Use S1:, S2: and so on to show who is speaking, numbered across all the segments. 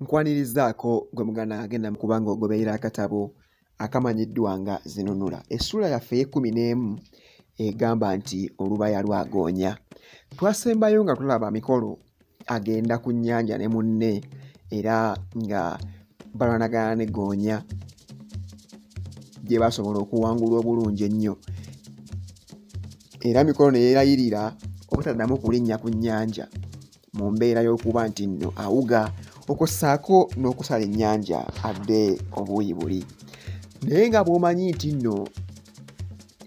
S1: nkwanirizaako gwe muganda agenda mukubanga ogoberera akatabo akamanyiddwa nga zinunula essuula yaffe ey'ekkumi n'emu egamba nti olubaya lwagoonya twasembayo nga tulaba mikolo agenda ku nnyanja ne munne era nga balwanagana ne goonya gye basobola okuwangulwa obulungi ennyo era mikolo ne yeerayirira obutaddamu kulinnya ku nnyanja mu mbeera y'okuba nti nno awuga okwo ssaako n'okusala ennyanja adde obuuyi buli naye nga bw'omanyi nti nno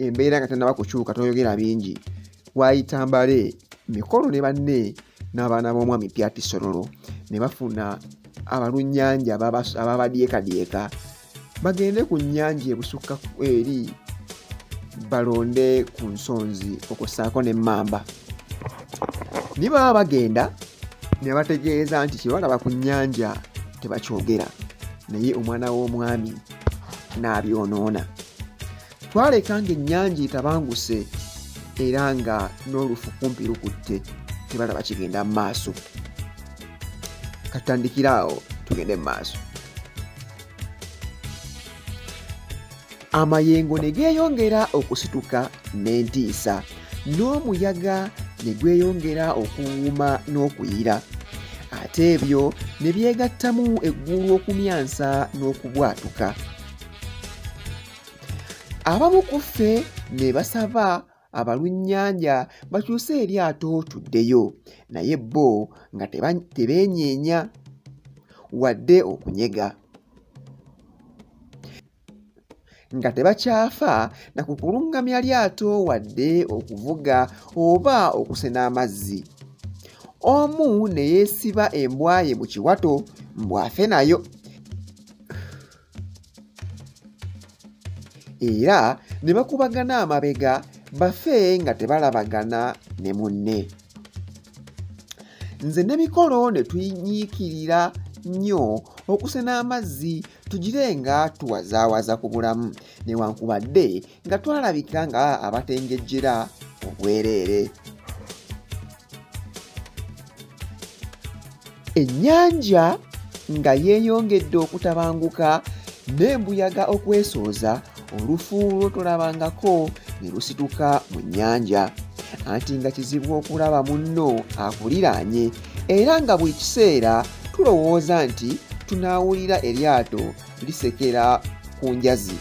S1: embeera nga tannaba kukyuka toyogera bingi waayita mbale mikolo ne banne n'abaana b'omwami pyati sorolo ne bafuna abalunnyanja ababadyekadyeka bagende ku nnyanja ebusukka eri balonde ku nsonzi okussaako n'emmamba naye baba bagenda ne bategeeza nti kye balaba ku nnyanja tebakyogera naye omwana w'omwami n'abyonoona twaleka ng'ennyanja etabanguse era nga n'olufu kumpi lukutte tebalaba kigenda mu maaso katandikira awo tugende mu maaso amayengo ne geeyongera okusituka n'entiisa n'omuyaga ne gweyongera okuwuuma n'okuyira ate ebyo ne byegattamu eggulu okumyansa n'okubwatuka abamu ku ffe ne basaba abalunnyanja bakyuse eryato tuddeyo naye bo nga tebeenyeenya wadde okunyega nga tebakyafa na ku kulungamya lyato wadde okuvuga oba okusena amazzi omu ne yeesiba embwaye mu kiwato mbw'afe nayo era ne bakubagana amabega bafe nga tebalabagana ne munne nze ne mikolo ne tunyiikirira nnyo okusena amazzi tugire nga tuwazaawaza ku bulamu newankubadde nga twalabika nga abatengejjera obwereere ennyanja nga yeeyongedde okutabanguka n'embuyaga okwesooza olufu lwo tolabangako ne lusituka mu nnyanja anti nga kizibu okulaba munno akuliraanye era nga buli kiseera tulowooza nti tunaawulira eryato lisekera ku njazi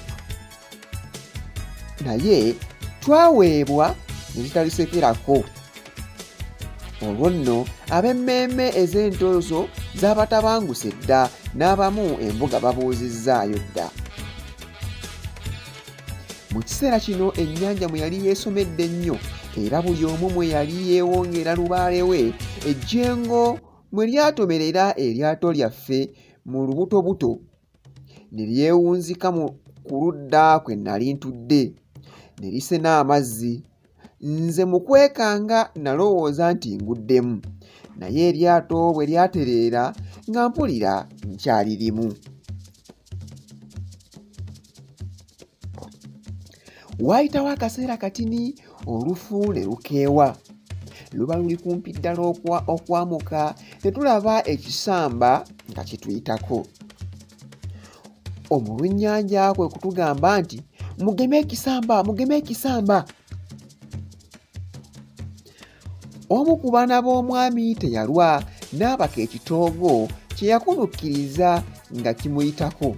S1: naye twaweebwa ne zitalisekerako olwo nno ab'emmeeme ez'entooso z'abatabanguse dda n'abamu embuga babuuzizzaayo dda mu kiseera kino ennyanja mwe yali yeesomedde ennyo era buli omu mwe yali yeewongera lubaale we ejjengo mwe lyatomerera eryato lyaffe mu lubutobuto ne lyewunzika mu ku ludda kwe nali ntudde ne lisena amazzi nze mu kwekanga nalowooza nti nguddemu naye eryato bwe lyatereera nga mpulira nkyalirimu waayitawo akaseera katini olufu ne lukeewa luba luli kumpi ddala okwamuka ne tulaba ekisamba nga kituyitako omulunnyanja kwe kutugamba nti mugeme ekisamba mugeme ekisamba omu ku baana b'omwami teyalwa n'abaka ekitoogo kye yakunukkiriza nga kimuyitako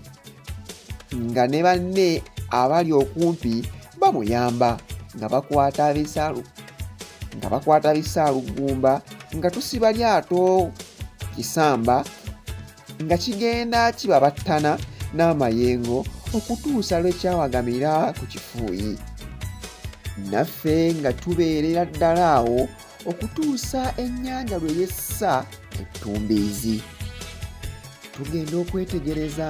S1: nga ne banne abali okumpi bamuyamba nga bakwata bisaalu nga bakwata bisaaluggumba nga tusiba lyato kisamba nga kigenda kibabattana n'amayengo okutuusa lwe kyawagamira ku kifuuyi naffe nga tubeerera ddala awo okutuusa ennyanja lwe yessa ettumbiizi tugenda okwetegereza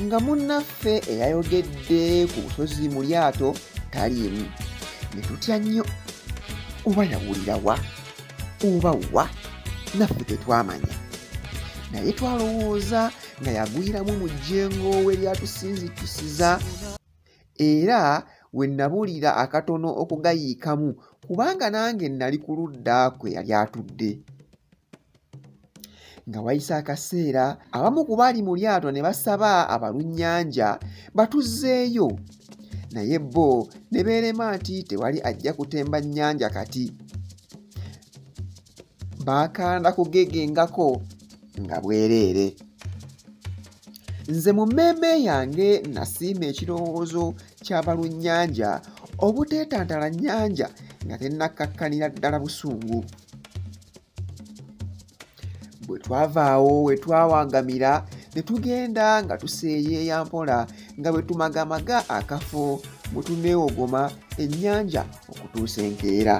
S1: nga munnaffe eyayogedde ku busozi mu lyato taliimu ne tutya nnyo oba yawulira wa oba wa naffe tetwamanya naye twalowooza nga yagwiramu mu jjengo we lyatusinzitusiza era we nabuulira akatono okugayiikamu kubanga nange nali ku ludda kwe yali atudde nga wayise akaseera abamu ku baali mu lyato ne basaba abalunnyanja batuzzeeyo naye bo ne beerema nti tewali ajja kutemba nnyanja kati baakanda kugegengako nga bwereere nze mu mmeeme yange nasiima ekirowoozo ky'abalunnyanja obuteetantala nnyanja nga tennakkakkanira ddala busungu bwe twavaawo we twawangamira ne tugenda nga tuseeyeeya mpola nga bwe tumagamaga akafo mwe tuneewogoma ennyanja okutuusa enkeera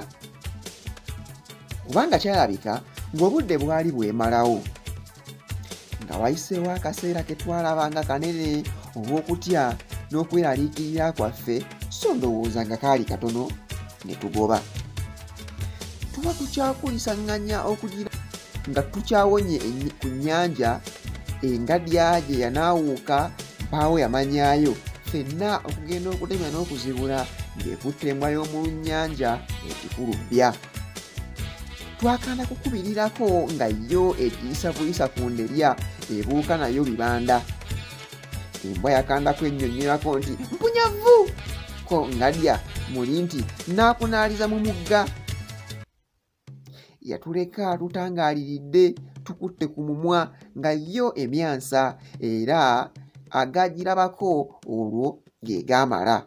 S1: kubanga kyalabika ng'obudde bwali bwemalawo nga wayiseewo akaseera ke twalaba nga kanene olw'okutya n'okweraliikirira kwaffe so ndowooza nga kaali katono ne tugoba tuba tukyakulisaŋŋanya okugira nga tukyawonye ku nnyanja engadya gye yanaawuuka mpaawo yamanyaayo fenna okugenda okutemya n'okuzibula ng'ekutte embwa y'omu lunnyanja ekikulu bbya twakanda kukubirirako nga yo etiisa buyisa ku nderya ebuuka nayo bibanda embwa yakanda kwennyonnyolako nti mpunyavu ko ngalya muli nti n'akunaaliza mu mugga yatuleka tutangaaliridde tukutte ku mumwa nga yo emyansa era agagirabako olwo ge gaamala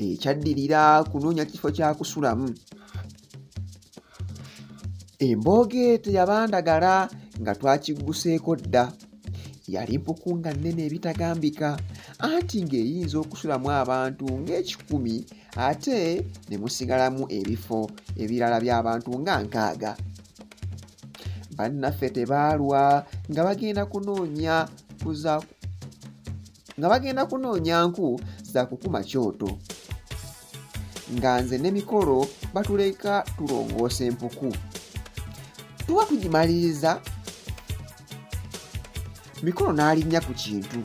S1: ekyaddirira kunoonya kifo kyakusulamu embooge teyabandagala nga twakigguseeko dda yali mpuku nga nnene ebitagambika anti ng'eyinza okusulamu abantu ng'ekikumi ate ne musigalamu ebifo ebirala by'abantu nga nkaaga bannaffe tebaalwa nga bagenda kunoonya kuza nga bagenda kunoonya nku za kukuma kyoto nga nze ne mikolo batuleka tulongoosa empuku tuba tugimaliriza mikono n'alinnya ku kintu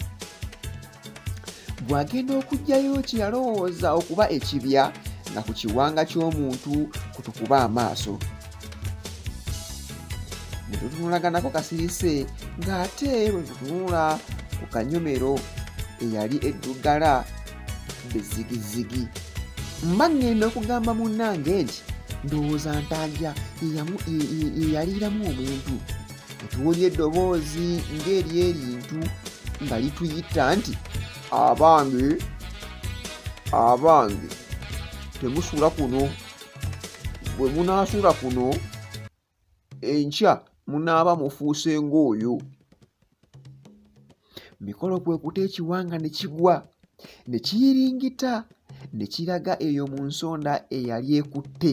S1: bw'agenda okuggyayo kye yalowooza okuba ekibya nga ku kiwanga ky'omuntu kutukuba amaaso ne tutunulaganako kasirise ng'ate bwe tutunula ku kanyomero eyali eddugala bezigizigi mba ŋŋenda okugamba munnange nti ndowooza ntaja yeyaliiramu omuntu ntuwulira eddoboozi ng'eri erintu nga lituyita nti abange abange temusuula kuno bwe munaasuula kuno enkya munaaba mufuuse ng'oyo mikolo kwe kuta ekiwanga ne kigwa ne kiyiringita ne kiraga eyo mu nsonda eyali ekutte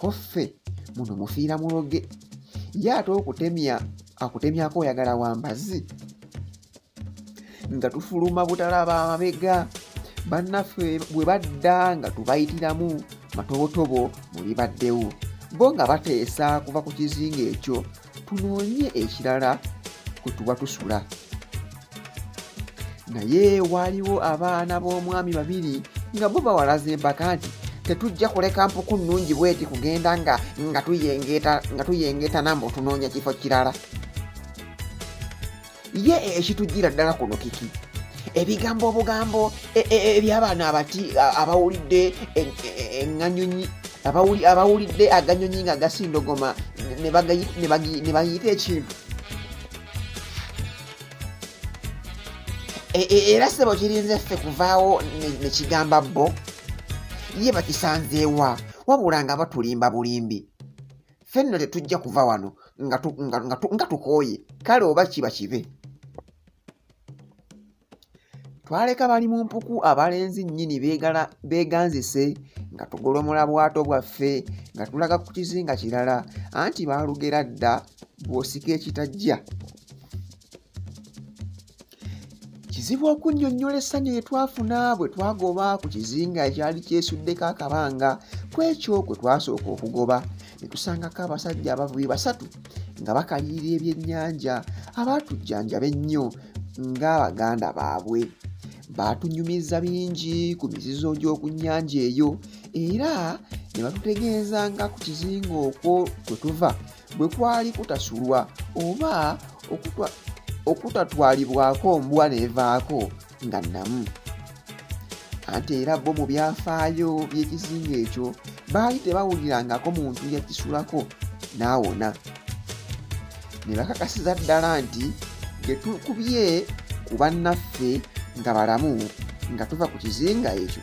S1: koffe muno mufiira muloge ye ate okutemya akutemyako oyagala wambazi nga tufuluma butalaba amabega bannaffe bwe badda nga tubayitiramu matobotobo muli baddewo bo nga bateesa kuva ku kizinga ekyo tunoonye ekirala kwe tuba tusula naye waaliwo abaana b'omwami babiri nga bo bawalaza empaka nti tetujja kuleka mpuku nnungi bweti kugenda nga nga tuyengeeta nga tuyengeeta namba otunoonya kifo kirala ye ekitujjira ddala kuno kiki ebigambo obugambo e, e, e, ebyabaana abati abawulidde eŋanyonyi abawulidde aganyonyi nga gasindogoma ne bayita ekintu era sebo kirinze ffe kuvaawo nekigamba bo ye bakisanzeewa wabula nga batulimba bulimbi fenno tetujja kuva wano nga tukooye kale oba kiba kibe twaleka bali mu mpuku abalenzi nnyini beeganzise nga tugolomola bwato bwaffe nga tulaga ku kizinga kirala anti baalugera dda bw'osika ekitajja kizibu okunnyonnyola essanyu lye twafuna bwe twagoba ku kizinga ekyali kyesuddeko akabanga ku ekyo kwe twasooka okugoba ne tusangako abasajja abavubi basatu nga bakalirira ebyennyanja abaatujjanjaba ennyo ng'abaganda baabwe baatunyumiza bingi ku mizizo gy'oku nnyanja eyo era ne batutegeeza nga ku kizinga okwo kwe tuva bwe kwali kutasulwa oba okutatwalibwako mbwa neevaako nga nnamu anti era bo mu byafaayo by'ekizinga ekyo baali tebawulirangako muntu yakisulako n'awona ne bakakasiza ddala nti ge tukubye ku bannaffe nga balamu nga tuva ku kizinga ekyo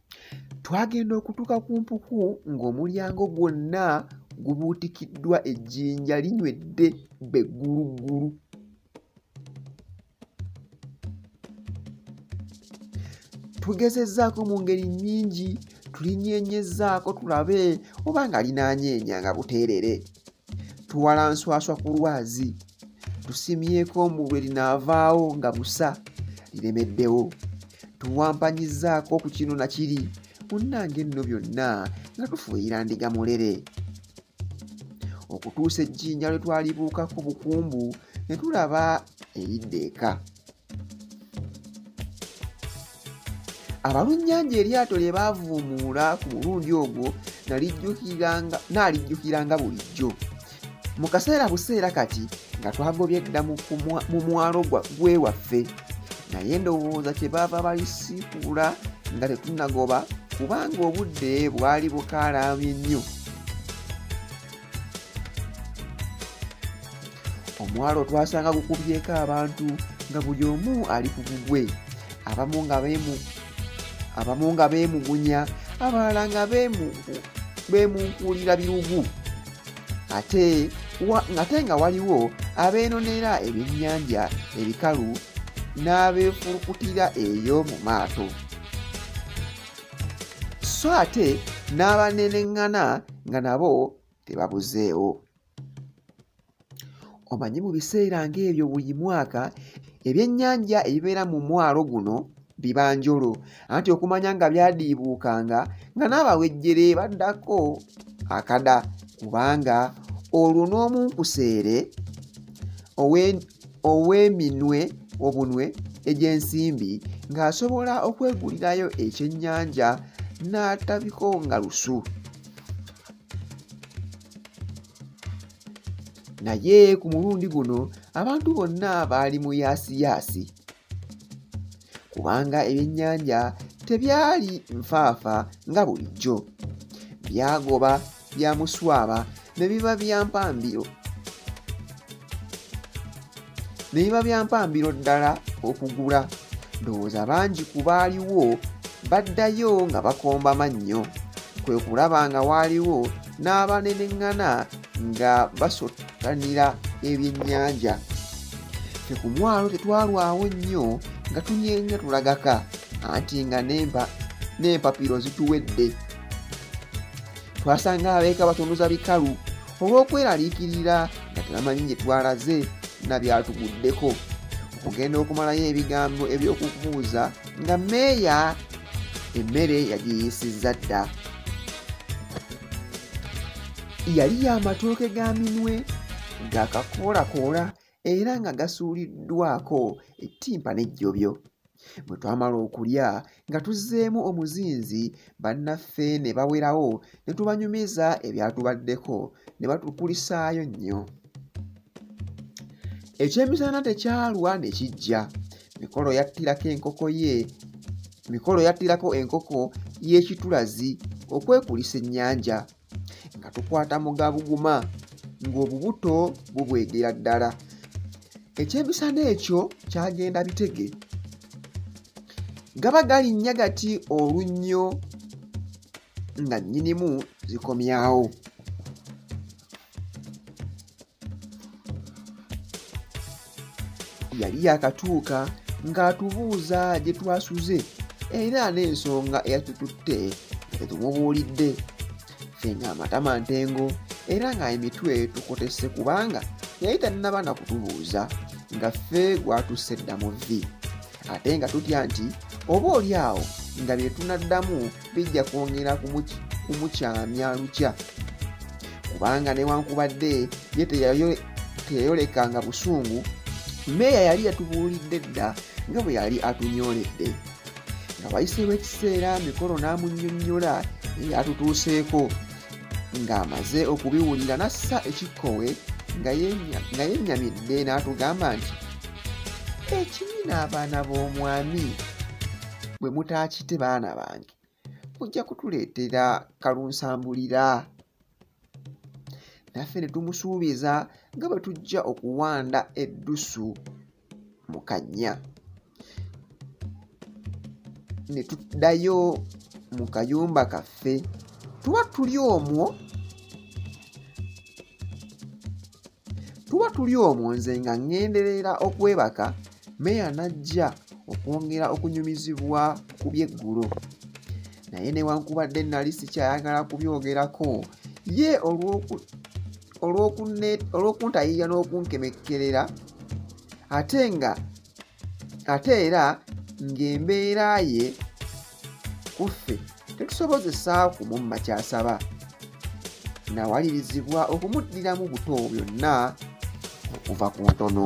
S1: twagenda okutuuka ku mpuku ng'omulyango gwonna gubuutikiddwa ejjinja linywedde begguluggulu tugezezzaako mu ngeri nnyingi tulinyeenyezzaako tulabe oba nga linaanyeenya nga buteerere tuwala nswaswa ku lwazi tusimyeko mbu lwe linaavaawo nga busa liremeddewo tuwampanyizzaako ku kino na kiri munnange enno byonna nga tufuuyira ndiga mulere okutuusa ejjinja lwe twalibuukako bukumbu ne tulaba eridda eka abalunnyanja eryato lye baavuumuula ku mulundi ogwo naalijjukiranga bulijjo mu kaseera buseera kati nga twagobye dda mu mwalo gwe waffe naye ndowooza kyebaava balisiikuula nga tetunagoba kubanga obudde bwali bukaalaamye nnyo omwalo twasanga gukubyeko abantu nga buli omu ali ku gugwe abamu nga beemu abamu nga beemugunya abalala nga beemunkuulira birugu ate ngate nga waliwo abeenonera ebyennyanja ebikalu n'abeefulukutira eyo mu maato so ate n'abaneneŋŋana nga nabo tebabuzeewo omanyi mu biseera ng'ebyo buli mwaka ebyennyanja ebibeera mu mwalo guno biba njolo anti okumanya nga byadiibuukanga nga n'abawejjere baddako akada kubanga olwo n'omunkuseere ow'eminwe obunwe egy'ensimbi ng'asobola okwegulirayo ekyennyanja n'atabiko nga lusu naye ku mulundi guno abantu bonna baali mu yaasiyaasi kubanga ebyennyanja tebyali nfaafa nga bulijjo byagoba bya muswaba ne biba bya mpambiro ne biba bya mpambiro ddala okugula ndowooza bangi ku baaliwo baddayo nga bakomba mannyo kwe kulaba nga waaliwo n'abaneneŋŋana nga basottanira ebyennyanja fe ku mwalo tetwalwawo nnyo nga tunyenga tulagaka anti nga n'empapiro zituwedde twasanga abeeka batunuza bikalu olw'okweraliikirira nga tebamanyi gye twalaze na byatuguddeko okugenda okumalayo ebigambo eby'okubuuza nga meeya emmere yagiyisizza dda yali y'amatooke ga minwe gakakoolakoola era nga gasuuliddwako ettimpa n'ejjobyo bwe twamala okulya nga tuzzeemu omuzinzi bannaffe ne bawerawo ne tubanyumiza ebyatubaddeko ne batukulisaayo nnyo ekyemisana tekyalwa ne kijja mikolo yattirako enkoko ye mikolo yattirako enkoko y'ekitulazi okwekulisa ennyanja nga tukwata mugabuguma ng'obubuto bubwegera ddala ekyemisana ekyo kyagenda bitege gaba galinnya gati olunnyo nga nnyinimu zikomyawo yali yakatuuka ng'atubuuza gye twasuze era n'ensonga eyatututte fe tumubuulidde fe ng'amatama ntengo era ng'emitwe tukotese kubanga yali tannaba na kutubuuza nga ffe gwatusse dda mu vvi ate nga tutya nti oba oli awo nga bye tunaddamu bijja kwongera kumukyamya lukya kubanga newankubadde ye teyayolekanga busungu meeya yali yatubuulidde dda nga bwe yali atunyoledde nga wayiseewo ekiseera mikolo n'amunyonyola eyatutuuseeko ng'amaze okubiwulira n'assa ekikkowe nga yennyamidde n'atugamba nti ekibi n'abaana b'omwami bwe mutaakite baana bange mujja kutuleetera kalunsambulira naffe ne tumusuubiza nga bwe tujja okuwanda eddusu mu kannya ne tuddayo mu kayumba kaffe tuba tuli omwo tuba tuli omwo nze nga ŋŋenderera okwebaka meya n'ajja okwongera okunyumizibwa ku byeggulo naye newankubadde nali sikyayagala kubyogerako ye olw'oku olw'okuntayiya n'okunkemekkerera ate nga ate era ng'embeera ye ku ffe tetusobozesaawo kumumma ky'asaba nawalirizibwa okumuddiramu buto byonna okuva ku ntono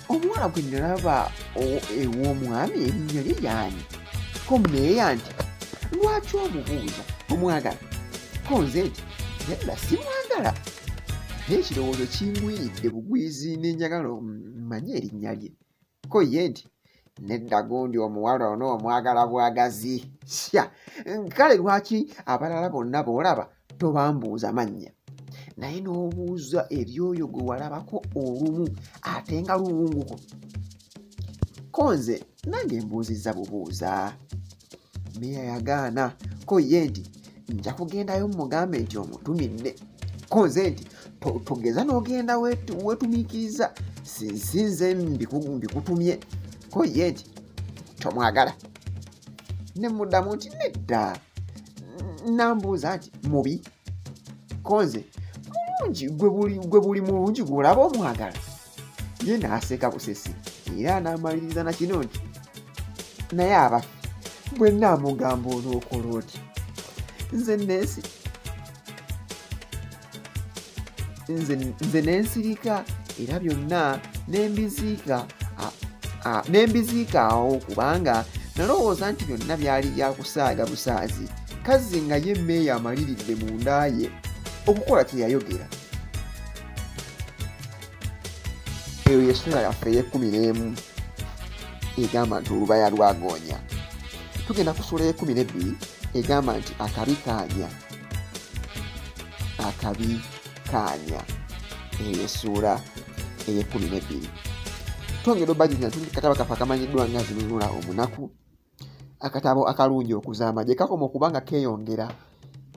S1: omuwala gwe nalaba ew'omwami erinnya lye yaani ko meeya nti lwaki omubuuza omwagala ko nze nti nedda simwagala naye ekirowoozo kingwiridde bugwizi n'enjagala manye erinnya lye ko ye nti nedda gundi omuwala ono omwagala bwagazi sya kale lwaki abalala bonna boolaba tobambuuza mannya naye n'obuuza ebyoyo gwe walabako olumu ate nga luwunguko ko nze nange mbuuzizza bubuuza meya yagaana ko ye nti nja kugendayo mumugambe nti omutuminne ko nze nti togeza n'ogenda wetumiikiriza sinze mbikutumye ko ye nti tomwagala ne muddamu nti nedda nambuuza nti mubi konze mulungi gwe buli mulungi gwolaba omwagala ye naaseka busesi era anaamaliriza na kino nti naye abafe bwe naamugamba onookola oti nze nensi nze nensirika era byonna nembiziika nembiziika awo kubanga nalowooza nti byonna byali byakusaaga busaazi kazzi nga ye mmeeyo amaliridde mu nda ye okukola kyeyayogera eyo yesula yaffe eyekumi n'emu egamba nti olubaya lwagoonya tugenda kusula ekumi nebbiri egamba nti akabi kaanya akabi kaanya eyo essuula eyekumi nebbiri twongera obajjukira nti katabo kaffe akamanyiddwa nga zinunula omunaku akatabo akalungi okuzaama gye kakoma okuba nga keeyongera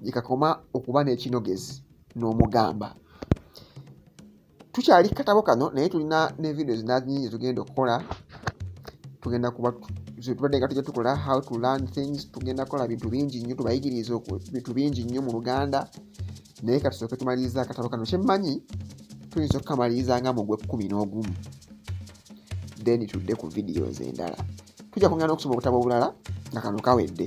S1: gye kakoma okuba n'ekinogezi n'omugamba tukyali katabo kano naye tulina ne video zinazinyingi tugenda okukola tugenda kuba tubadde nga tujja tukola how to learn things tugenda kukola bintu bingi nnyo tubayigiriza bintu bingi nnyo mu luganda naye katusooke tumaliriza akatabo kano kyemmanyi tuyinza okukamaliriza nga mu gwekkumi n'ogumu then tudde ku videos endala tujja kwongera n'okusoma obutabo obulala nga kano kawedde